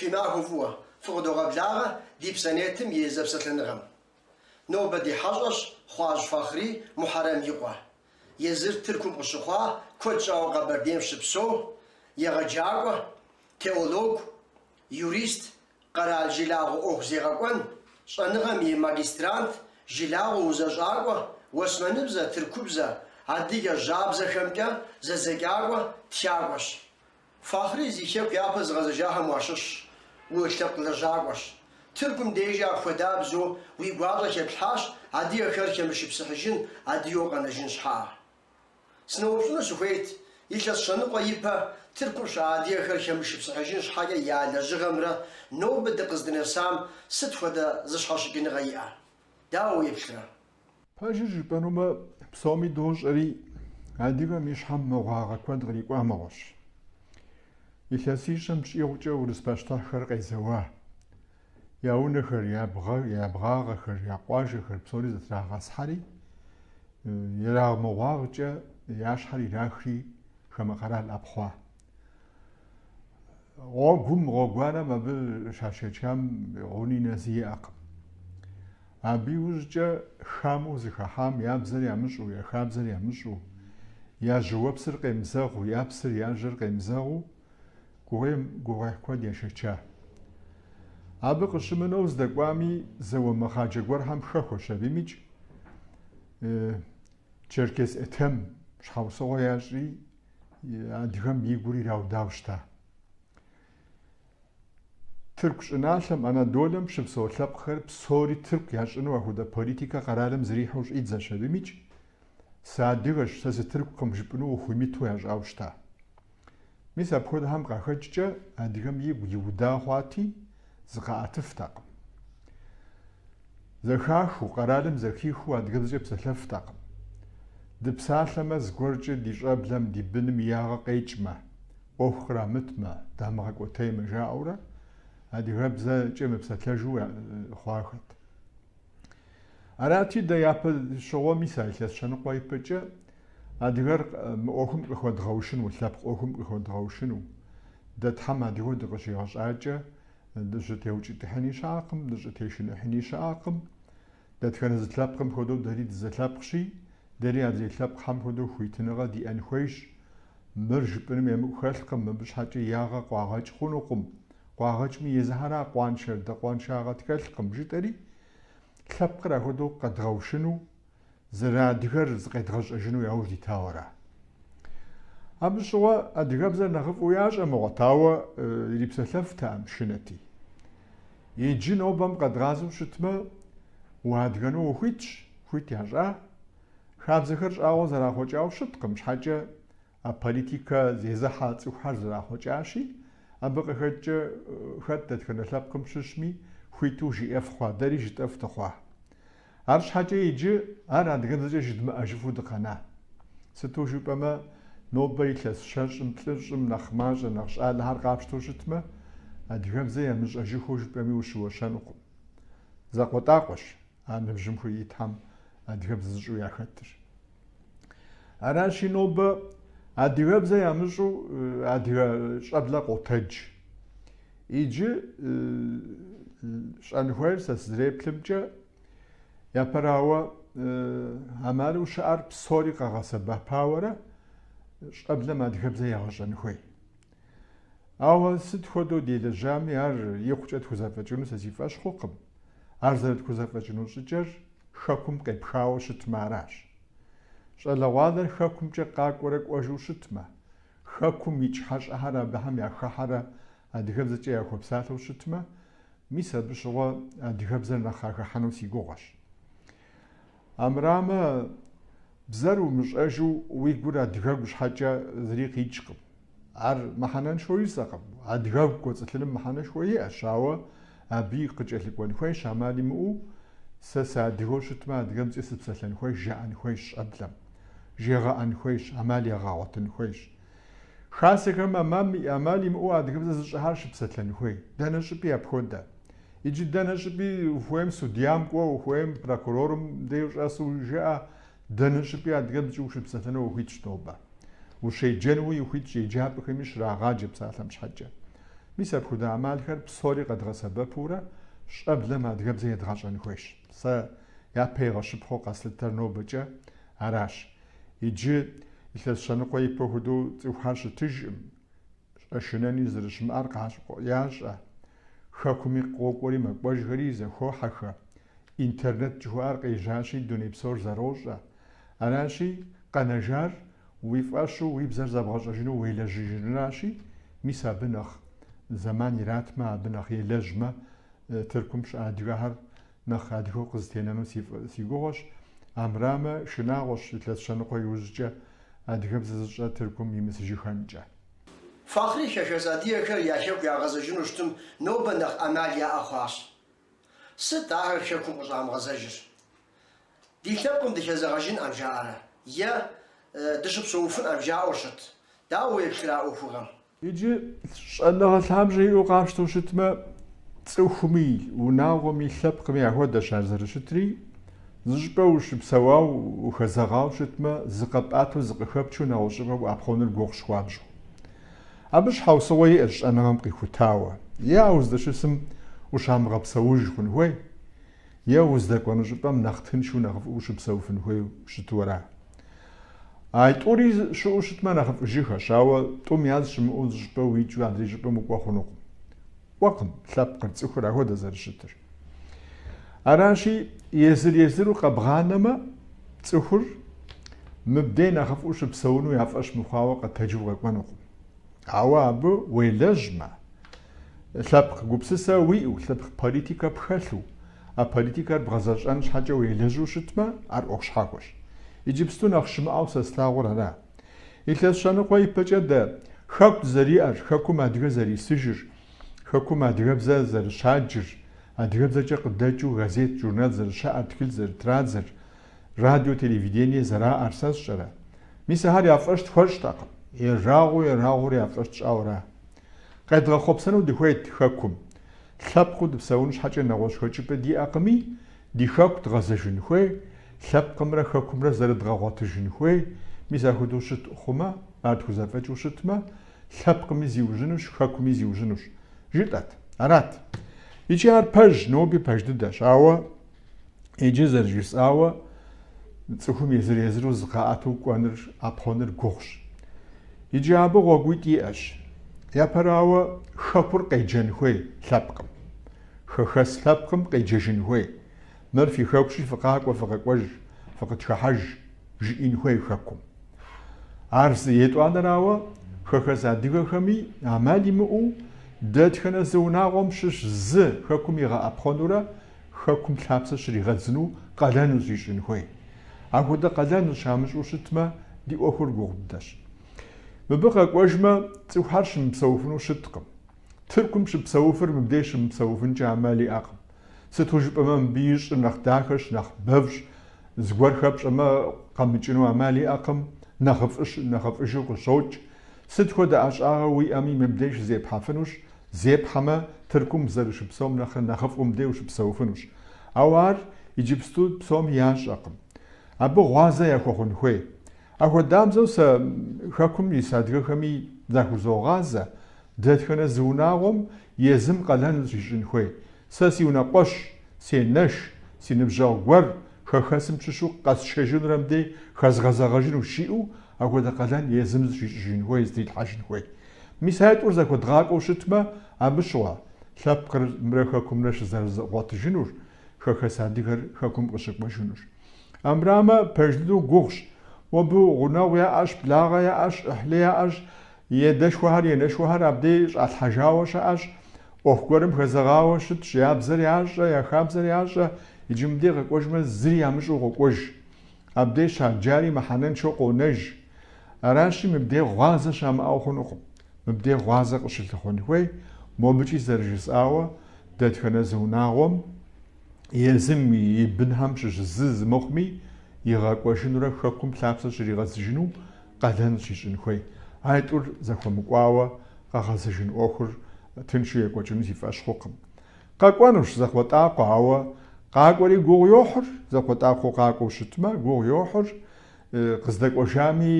Фи махуэ фӏыуэ фыкъыдогъэблагъэ ди псанетым и зэпсэлъэныгъэм. Нобэ ди хьэщӏэщ Хъуажь Фахъри Мухьэрэм и къуэ. Езыр Тыркум къыщыхъуа, куэд щӏауэ Къэбэрдейм щыпсэу, егъэджакӏуэ, теолог, Юрист, къэрал жылагъуэ ӏуэху зегъэкӏуэн щӏэныгъэм и магистрант, жылагъуэ узэщӏакӏуэ, уэсмэныбзэ, тыркубзэ, адыгэ жьабзэхэмкӏэ зэдзэкӏакӏуэ, тхакӏуэщ. Фахъри, зи Хэку япэ зыгъэзэжахэм уащыщщ, улъэпкъ лэжьакӏуэщ. Тыркум дежи апхуэдабзэу уи гуащӏэ хэплъхьащ адыгэхэр хэмышыпсыхьыжын, адыгэу къэнэжын щхьэ Сыноупщӏыну сыхуейт, илъэс щэныкъуэ ипэ Тыркум щыӏа адыгэхэр хэмышыпсыхьыжын щхьэкӏэ я лэжьыгъэмрэ нобэ дыкъыздынэсам сыт хуэдэ зыщхьэщыкӏыныгъэ иӏэ? Дауэ уеплърэ? Пэжыр жыпӏэнумэ, псоми дощӏэри, адыгэм и щхьэм мыгъуагъэ куэд кърикӏуа мыгъуэщ. Илъэсищэм щӏигъукӏэ урыс пащтыхьхэр къезэуа. я унэхэр, я бгъагъэхэр, я къуажэхэр псори зэтрагъэсхьэри, ерагъмыгъуагъкӏэ я щхьэр ирахри хамэ къэрал ӏэпхъуа. Гъуэгум, гъуэгуанэм абы щашэчам гъуни нэзи иӏэкъым. Абы иужькӏэ хамэу зыхэхьам я бзэр ямыщӏу, я хабзэр ямыщӏу, я жьыуэпсыр къемызэгъу, я псыр, я жьыр къемызэгъу, гугъуейм гугъуехь куэд яшэча. Абы къыщымынэу здэкӏуами, зауэ мыхъаджэ гуэрхэм хэхуэщ абы имыкӏ Черкес Этем щхьэусыгъуэ ящӏи, адыгэм и гур ираудауэ щыта. Тырку щӏыналъэм, Анадолэм щыпсэу лъэпкъхэр псори тырку ящӏыну апхуэдэ политикэ къэралым зэрихьэу щӏидзэщ абы имыкӏ, Сыадыгэщ, сэ сытыркукъым жыпӏэну ухуимыту ящӏауэ щыта. Мис апхуэдэхэм къахэкӏкӏэ адыгэм и гур иуда хъуати, зыкъаӏэтыфтэкъым. Зэхахыу, къэралым зэхихыу адыгэбзэкӏэ псэлъэфтэкъым. Дыпсалъэмэ, зыгуэркӏэ ди щӏэблэм, ди быным и ягъэ къекӏмэ, ӏуэху кърамытмэ, дамыгъэкӏуэтеймэ жаӏэурэ адыгэбзэкӏэ мыпсэлъэжу хъуахэт. Арати, дэ япэ щыгъуэ мис а илъэс щэныкъуэ ипэкӏэ адыгэр мы ӏуэхум къыхуэдгъэушыну, лъэпкъ ӏуэхум къыхуэдгъэушыну. Дэ Тхьэм адыгэу дыкъыщигъэщӏакӏэ, дыщӏытеукӏытыхьыни щыӏэкъым, дыщӏытешыныхьыни щыӏэкъым. Дэтхэнэ зы лъэпкъым хуэдэу дэри дызылъэпкъщи, дэри адрей лъэпкъхэм хуэдэу хуитыныгъэ диӏэн хуейщ. Мыр жыпӏэным емыкӏу хэлъкъым, мыбы щхьэкӏэ ягъэ къуагъэкӏ хъунукъым, Къуагъэкӏми езыхьэра къуаншэр дэ къуаншагъэ тхэлъкъым, жытӏэри, лъэпкъыр апхуэдэу къэдгъэушыну, зэрыадыгэр зыкъедгъэщӏэжыну яуж дитауэра? Абы щыгъуэ адыгэбзэр нэхъыфӏу ящӏэ мыгъуэт, ауэ ирипсэлъэфтэкъым шынэти. Иджы нобэм къэдгъазэу щытмэ, уадыгэну ухуитщ, хуит ящӏа? Хабзэхэр щӏагъуэ зэрахъуэкӏауэ щыткъым щхьэкӏэ А политикэ зезыхьэ цӏыхухэр зэрахъуэкӏащи, абы къыхэкӏкӏэ хэт дэтхэнэ лъэпкъым щыщми хуиту жиӏэф хъуа, дэри жытӏэф дыхъуа. Арщхьэкӏэ иджы ар адыгэбзэкӏэ жыдмыӏэжыфу дыкъэна. Сыту жыпӏэмэ, нобэ илъэс щэщӏым, плӏыщӏым нэхъ мащӏэ, нэхъ щӏалэхэр къапщтэу щытмэ, адыгэбзэ ямыщӏэжыххэу жыпӏэми ущыуэщэнукъым. Закъуэтӏакъуэщ. А ныбжьым итхэм адыгэбзэ зыщӏэу яхэтыр. Аращи, нобэ адыгэбзэ ямыщӏэу адыгэ щӏэблэ къотэдж. Иджы щӏэн хуейр сэ сызэреплъымкӏэ, япэрауэ амалу щыӏэр псори къэгъэсэбэпауэрэ щӏэблэм адыгэбзэ ягъэщӏэн хуей. Ауэ сыт хуэдэу делэжьами, ар икъукӏэ тхузэфӏэкӏыну сэ си фӏэщ хъукъым. Ар зэрытхузэфӏэкӏыну щӏыкӏэр Хэкум къепхауэ щытмэ аращ. Щӏалэгъуалэр Хэкумкӏэ къакӏуэрэ кӏуэжу щытмэ, Хэкум икӏ хьэщӏэхэр абыхэм яхыхьэрэ адыгэбзэкӏэ яхуэпсалъэу щытмэ, мис абы щыгъуэ адыгэбзэр нэхъ къахыхьэну си гугъэщ. Амрамэ, бзэр умыщӏэжу уи гур адыгэгу щхьэкӏэ зыри къикӏкъым. Ар мыхьэнэншэу жысӏэкъым. Адыгэгу кӏуэцӏылъыным мыхьэнэшхуэ иӏэщ, ауэ абыи къыкӏэлъыкӏуэн хуейщ, ӏэмал имыӏэу сэ сыадыгэу щытмэ, адыгэбзэкӏэ сыпсэлъэн хуейщ, жаӏэн хуейщ щӏэблэм, жегъэӏэн хуейщ, ӏэмал егъэгъуэтын хуейщ. Хасэхэм ӏэмал ӏэмал имыӏэу адыгэбзэ зыщӏэхэр щыпсэлъэн хуей. Дэнэ щӏыпӏи апхуэдэ. Иджы дэнэ щӏыпӏи ухуейм судьям кӏуэ, ухуейм прокурорым дей ущӏэсу жыӏэ, дэнэ щӏыпӏи адыгэбзэкӏэ ущыпсэлъэну ухуитщ нобэ. Ущеджэнуи ухуитщ еджапӏэхэми щрагъаджэ псалъэм щхьэкӏэ. Мис апхуэдэ ӏэмалхэр псори къэдгъэсэбэпурэ щӏэблэм адыгэбзэ едгъэщӏэн хуейщ. Сэ япэ игъэщыпхъуэу къэслъытэр нобэкӏэ аращ. Иджы, илъэс щэныкъуэ ипэ хуэдэу цӏыхухэр щытыжкъым, щӏэшынэни зэрыщымыӏэр къащӏэ ящӏэ, хэкуми къокӏуэри мэкӏуэжхэри зэхохьэхэ, интернет жыхуаӏэр къежьащи, дуней псор зэрощӏэ. Аращи, къэнэжар уи фӏэщу уи бзэр зэбгъэщӏэжыну уелэжьыжынращи, мис абы нэхъ зэман иратмэ, абы нэхъ елэжьмэ, Тыркум щыӏэ адыгэхэр Нэхъ адыгэу къызэтенэну си гугъуэщ. Армырамэ, шынагъуэщ илъэс щэныкъуэ иужькӏэ адыгэбзэ зыщӏэ Тыркум имысыжыхэнкӏэ. Фахъри хэхэс адыгэхэр я хэку ягъэзэжыну щытым нобэ нэхъ ӏэмал яӏэ хъуащ. Сыт ахэр хэкум къыщӏамыгъэзэжыр? Ди лъэпкъым дыхэзэгъэжынӏэм жаӏэрэ е дыщыпсэуфынӏэм жаӏэу щыт? Дауэ уеплърэ а ӏуэхугъуэм? Иджы щӏэныгъэ лъабжьэ иӏэу къапщтэу щытмэ, цӏыхуми, унагъуэми, лъэпкъми яхуэдэщ ар зэрыщытри, зыщӏыпӏэ ущыпсэуауэ, ухэзэгъауэ щытмэ, зыкъэпӏэту, зыкъыхэпчу нэгъуэщӏыпӏэ уӏэпхъуэныр гугъущ хуабжьу. Абы щхьэусыгъуэ иӏэщ щӏэныгъэм къихутауэ, е а уздэщысым ущамыгъэпсэуж хъун хуей. Е уздэкӏуэну щӏыпӏэм нэхъ тыншу, нэхъыфӏу ущыпсэуфын хуейу щыту ара. А тӏури щыӏэу щытмэ, нэхъыфӏыжыхэщ, ауэ тӏум яз щымыӏэу зы щӏыпӏэ уикӏыу адрей щӏыпӏэм укӏуэ хъунукъым. Кӏуэкъым лъэпкъыр цӏыхур ахуэдэ зэрыщытыр. Аращи, езыр-езыру къэбгъанэмэ, цӏыхур мыбдей нэхъыфӏу щыпсэуну я фӏэщ мыхъуауэ къэтэджу къэкӏуэнукъым. Ауэ абы уелэжьмэ, Лъэпкъ гупсысэ уиӏэу, лъэпкъ политикэ пхэлъу, а политикэр бгъэзэщӏэн щхьэкӏэ уелэжьу щытмэ, ар ӏуэху щхьэхуэщ. Иджыпсту нэхъ щымыӏэу сэ слъагъур ара. Илъэс щэныкъуэ ипэкӏэ дэ Хэку дызэриӏэр, Хэкум адыгэ зэрисыжыр, Хэкум адыгэбзэ зэрыщаджыр, адыгэбзэкӏэ къыдэкӏыу газет, журнал зэрыщаӏэр, тхылъ зэрытрадзэр, радио, телевидение зэраӏэр сэ сщӏэрэ? Мис ахэр я фӏэщ тхуэщӏтэкъым. Ерагъыу-ерагъыурэ я фӏэщ тщӏауэ ара. Къедгъэхъуэпсэну дыхуейт Хэкум. Лъэпкъыу дыпсэун щхьэкӏэ нэгъуэщӏ хэкӏыпӏэ диӏэкъыми, ди Хэку дгъэзэжын хуей, лъэпкъымрэ Хэкумрэ зэрыдгъэгъуэтыжын хуей, мис ахуэдэу щыт хъумэ, ар тхузэфӏэкӏыу щытмэ, лъэпкъыми зиужьынущ, Хэкуми зиужьынущ, жытӏэт. Арат. Икӏи ар пэж, ноби пэж дыдэщ, ауэ Иджы, зэрыжысӏауэ, цӏыхум езыр-езыру зыкъаӏэту кӏуэныр, ӏэпхъуэныр гугъущ. Иджы абы гъуэгуитӏ иӏэщ. Япэрауэ, Хэкур къеджэн хуей лъэпкъым. Хэхэс лъэпкъым къеджэжын хуей. Мыр фи Хэкущи, фыкъакӏуэ, фыкъэкӏуэж, фыкъытхыхьэж, жиӏэн хуей Хэкум. Ар зы. Етӏуанэрауэ, хэхэс адыгэхэми ӏэмал имыӏэу, дэтхэнэ зы унагъуэм щыщ зы Хэкум игъэӏэпхъуэнурэ, Хэкум лъапсэ щригъэдзыну къалэну щищӏын хуей. Ахуэдэ къалэну щамыщӏу щытмэ, ди ӏуэхур гугъу дыдэщ. Мыбы къэкӏуэжмэ, цӏыхухэр щымыпсэуфыну щыткъым. Тыркум щыпсэуфыр мыбдеж щымыпсэуфынкӏэ амал иӏэкъым. Сыту жыпӏэмэ, мыбы и щӏыр нэхъ дахэщ, нэхъ бэвщ, зыгуэр хэпщӏэмэ, къэмыкӏыну амал иӏэкъым, нэхъыфӏыжу къыщокӏ. Сыт хуэдэ ӏэщӏагъэ уиӏэми, мыбдей щызепхьэфынущ, Зепхьэмэ, Тыркум зэрыщыпсэум нэхърэ нэхъыфӏу мыбдей ущыпсэуфынущ. Ауэ ар иджыпсту псоми ящӏэкъым. Абы гъуазэ яхуэхъун хуей. Ахуэдабзэу сэ Хэкум ис адыгэхэми захузогъазэ, дэтхэнэ зы унагъуэм езым къалэн зыщищӏын хуей. Сэ си унэкъуэщ, сенэш, си ныбжьэгъу гуэр хэхэсым щыщу къэсшэжынурэ мыбдей хэзгъэзэгъэжынущ, жиӏэу Ахуэдэ къалэн езым зыщищӏыжын хуей, зытрилъхьэжын хуей. Мис а тӏур зэхуэдгъакӏуэу щытмэ, абы щыгъуэ, лъэпкъымрэ хэкумрэ щызэрыгъуэтыжынур, хэхэс адыгэр хэкум къыщыкӏуэжынур. Армырамэ, пэж дыдэу гугъущ. Мобы гъунэгъу яӏэщ, благъэ яӏэщ, ӏыхьлы яӏэщ, едэшхуэхэр, енэшхуэхэр абдей щӏалъхьэжауэ щыӏэщ. ӏуэху гуэрым хэзэгъауэ щытщ, я бзэр ящӏэ, я хабзэр ящӏэ, иджы мыбдей къэкӏуэжмэ, зыри ямыщӏэу къокӏуэж. Абдей щаджари мыхьэнэншэу къонэж. Аращи, мыбдей гъуазэ щамыӏэу хъунукъым. Мыбдей гъуазэ къыщылъыхъуэн хуей, мобыкӏи зэрыжысӏауэ, дэтхэнэ зы унагъуэм езым и бынхэм щыщ зы зымыхъуми, игъэкӏуэжынурэ хэкум лъапсэ щригъэдзыжыну къалэн щищӏын хуей. А тӏур зэхуэмыкӏуауэ къэгъэзэжын ӏуэхур тыншу екӏуэкӏыну си фӏэщ хъукъым. Къэкӏуэнущ закъуэтӏакъуэ, ауэ къакӏуэри гугъу йохьыр, закъуэтӏакъуэу къакӏуэу щытмэ, гугъу йохьыр, къыздэкӏуэжами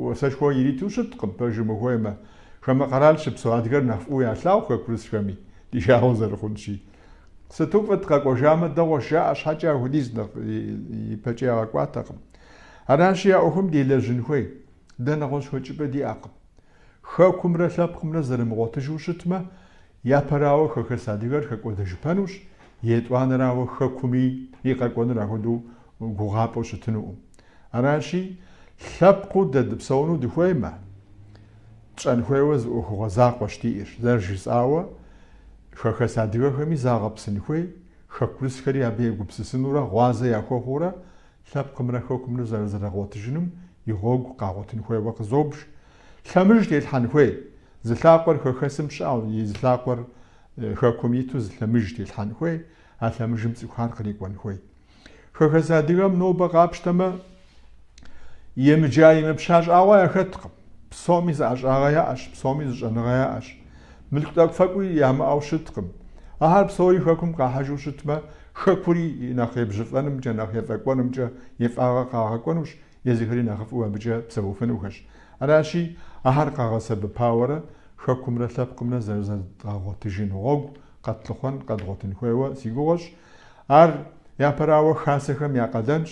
уасэшхуэ ириту щыткъым, пэжым ухуеймэ. Хамэ къэрал щыпсэу адыгэр нэхъ фӏыуэ ялъагъу хэкурысхэми, ди жагъуэ зэрыхъунщи. Сыту фӏыт, къэкӏуэжамэ, дэгъуэщ жаӏэ щхьэкӏэ ахуэдиз нэхъ ипэкӏэ ягъэкӏуатэкъым. Аращи, а ӏуэхум делэжьын хуей, дэ нэгъуэщӏ хэкӏыпӏэ диӏэкъым. Хэкумрэ лъэпкъымрэ зэрымыгъуэтыжу щытмэ, япэрауэ хэхэс адыгэр хэкӏуэдэжыпэнущ, етӏуанэрауэ Хэкуми и къэкӏуэнур ахуэдэу гугъапӏэу щытынукъым. Аращи, лъэпкъыу дэ дыпсэуну дыхуеймэ, тщӏэн хуейуэ зы ӏуэхугъуэ закъуэщ диӏэр. Зэрыжысӏауэ, хэхэс адыгэхэми загъэпсын хуей, хэкурысхэри абы егупсысынурэ гъуазэ яхуэхъуурэ Лъэпкъымрэ хэкумрэ зэрызэрыгъуэтыжыным и гъуэгу къагъуэтын хуейуэ къызобж. Лъэмыж телъхьэн хуей. Зы лъакъуэр хэхэсым щыӏэу, и зы лъакъуэр хэкум иту зы лъэмыж телъхьэн хуей, а лъэмыжым цӏыхухэр кърикӏуэн хуей. Хэхэс адыгэм нобэ къапщтэмэ, емыджа-емыпща щӏагъуэ яхэткъым. Псоми зы ӏэщӏагъэ яӏэщ, псоми зы щӏэныгъэ яӏэщ. Мылъку тӏэкӏу-фэкӏуи ямыӏэу щыткъым. Ахэр псори хэкум къахьыжу щытмэ, хэкури и нэхъ ебжьыфӏэнымкӏэ, нэхъ ефӏэкӏуэнымкӏэ и фӏагъэ къагъэкӏуэнущ, езыхэри нэхъыфӏу абыкӏэ псэуфынухэщ. Аращи, ахэр къагъэсэбэпауэрэ хэкумрэ лъэпкъымрэ зэрызэдгъэгъуэтыжын гъуэгу къэтлъыхъуэн, къэдгъуэтын хуейуэ си гугъэщ. Ар япэрауэ хасэхэм я къалэнщ,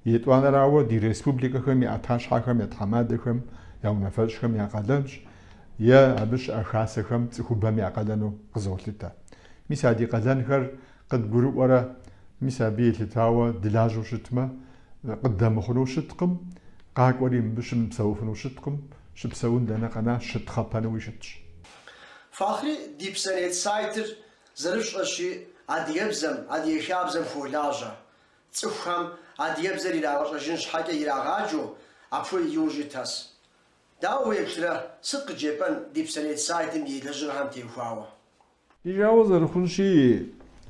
етӏуанэрауэ ди республикэхэм я ӏэтащхьэхэм я тхьэмадэхэм я унафэщӏхэм я къалэнщ. е абы щыӏэ хасэхэм цӏыхубэм я къалэну къызолъытэ. Мис а ди къалэнхэр къыдгурыӏуэрэ, мис абы елъытауэ дылажьэу щытмэ, къыддэмыхъуну щыткъым, къакӏуэри мыбы щымыпсэуфыну щыткъым, щыпсэун дэнэ къэна щытхъэпэнуи щытщ. Фахъри ди псэнет сайтыр зэрыпщӏэщи, адыгэбзэм, адыгэ хабзэм хуолажьэ. Цӏыхухэм адыгэбзэр ирагъэщӏэжын щхьэкӏэ ирагъаджэу апхуэдэ иужь итхэс. Дауэ уеплърэ, сыт къыджепӏэн ди псэнет сайтым и лэжьыгъэхэм теухуауэ? Ди жагъуэ зэрыхъунщи,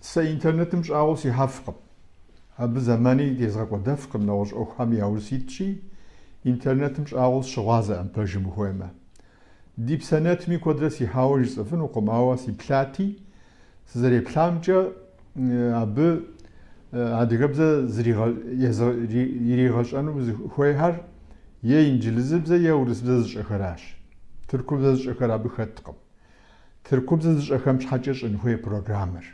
сэ интернетым щӏагъуэу сихьэфкъым. Абы зэмани тезгъэкӏуэдэфкъым, нэгъуэщӏ ӏуэхухэм яуж ситщи, интернетым щӏагъуэу сыщыгъуазэкъым, пэжым ухуеймэ. Ди псэнетми куэдрэ сихьауэ жысӏэфынукъым, ауэ сиплъати, Сызэреплъамкӏэ, абы адыгэбзэ иригъэщӏэну хуейхэр е инджылызыбзэ е урысыбзэ зыщӏэхэращ. Тыркубзэ зыщӏэхэр абы хэткъым. Тыркубзэ зыщӏэхэм щхьэкӏэ щӏын хуей программэр.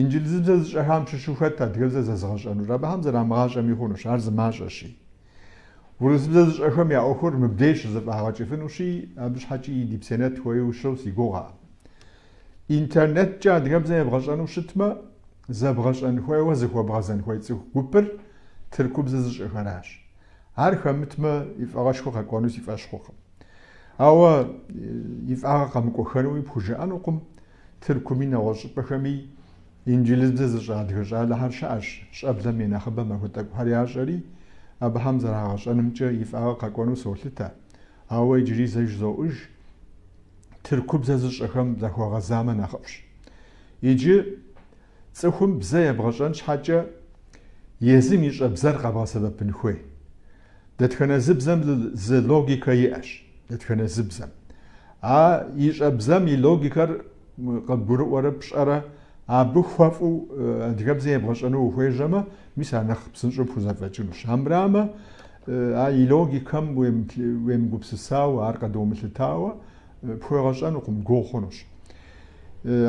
Инджылызыбзэ зыщӏэхэм щыщу хэт адыгэбзэ зэзыгъэщӏэнур. Абыхэм зэрамыгъащӏэми хъунущ, ар зы мащӏэщи. Урысыбзэ зыщӏэхэм я ӏуэхур мыбдеж щызэфӏагъэкӏыфынущи, абы щхьэкӏи ди псэнет хуейуэ щыӏэу си гугъэкъым. Интернеткӏэ адыгэбзэ ебгъэщӏэну щытмэ, зэбгъэщӏэн хуейуэ зыхуэбгъэзэн хуей цӏыху гупыр тыркубзэ зыщӏэхэращ. Ар хэмытмэ, и фӏагъышхуэ къэкӏуэну си фӏэщ хъукъым. Ауэ и фӏагъыр къэмыкӏуэхэнуи пхужыӏэнукъым, тыркуми, нэгъуэщӏ щӏыпӏэхэми инджылызбзэ зыщӏэ адыгэ щӏалэхэр щыӏэщ, щӏэблэм и нэхъыбэм апхуэдэ тӏэкӏухэр ящӏэри, абыхэм зэрагъэщӏэнымкӏэ и фӏагъыр къэкӏуэну солъытэ. Ауэ иджыри зэ жызоӏуж, тыркубзэ зыщӏэхэм захуэгъэзамэ нэхъыфӏщ. Иджы цӏыхум бзэ ебгъэщӏэн щхьэкӏэ езым ищӏэ бзэр къэбгъэсэбэпын хуей. Дэтхэнэ зы бзэм зы логикэ иӏэщ, дэтхэнэ зы бзэм. А ищӏэ бзэм и логикэр къыбгурыӏуэрэ пщӏэрэ, абы хуэфӏу адыгэбзэ ебгъэщӏэну ухуежьэмэ, мис ар нэхъ псынщӏэу пхузэфӏэкӏынущ. Армырамэ а и логикэм уемыгупсысауэ, ар къыдумылъытауэ пхуегъэщӏэнукъым, гугъу хъунущ.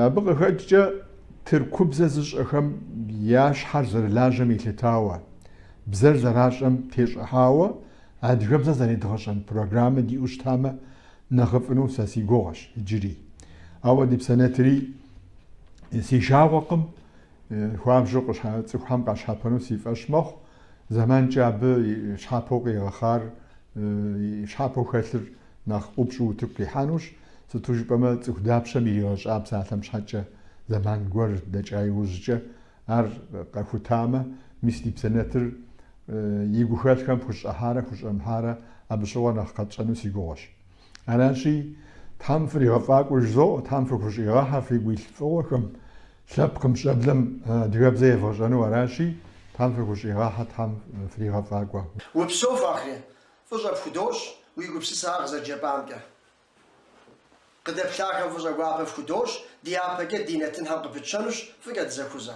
Абы къыхэкӏкӏэ тыркубзэ зыщӏэхэм я щхьэр зэрылажьэм елъытауэ, бзэр зэращӏэм тещӏыхьауэ адыгэбзэ зэредгъэщӏэн программэ диӏэу щытамэ, нэхъыфӏыну сэ си гугъэщ иджыри. Ауэ ди псэнетри си жагъуэкъым, хуабжьу цӏыхухэм къащхьэпэну си фӏэщ мэхъу, зэманкӏэ абы щхьэпэу къигъэхъар, щхьэпэу хэлъыр нэхъ ӏупщӏу утыку къихьэнущ, сыту жыпӏэмэ цӏыху дапщэм иригъэщӏа псалъэм щхьэкӏэ зэман гуэр дэкӏа иужькӏэ, Ар къэхутамэ, мис ди псэ нэтыр и гухэлъхэм хущӏыхьарэ хущӏэмыхьарэ абы щыгъуэ нэхъ къэтщӏэну си гугъуэщ. Аращи, Тхьэм фригъэфӏакӏуэ жызоӏэ, Тхьэм фыхущӏигъэхьэ фигу илъ фӏыгъуэхэм, лъэпкъым, щӏэблэм адыгэбзэ евгъэщӏэну аращи, Тхьэм фыхущӏигъэхьэ, Тхьэм фригъэфӏакӏуэ. Упсэу, Фахри, фӏыщӏэ пхудощӏ уи гупсысэ къызэрыджепӏамкӏэ. Къыдэплъахэм фӏыщӏэ гуапэ фхудощӏ, ди япэкӏэ ди нэтынхэр къыпытщэнущ, фӏыкӏэ дызэхузэ.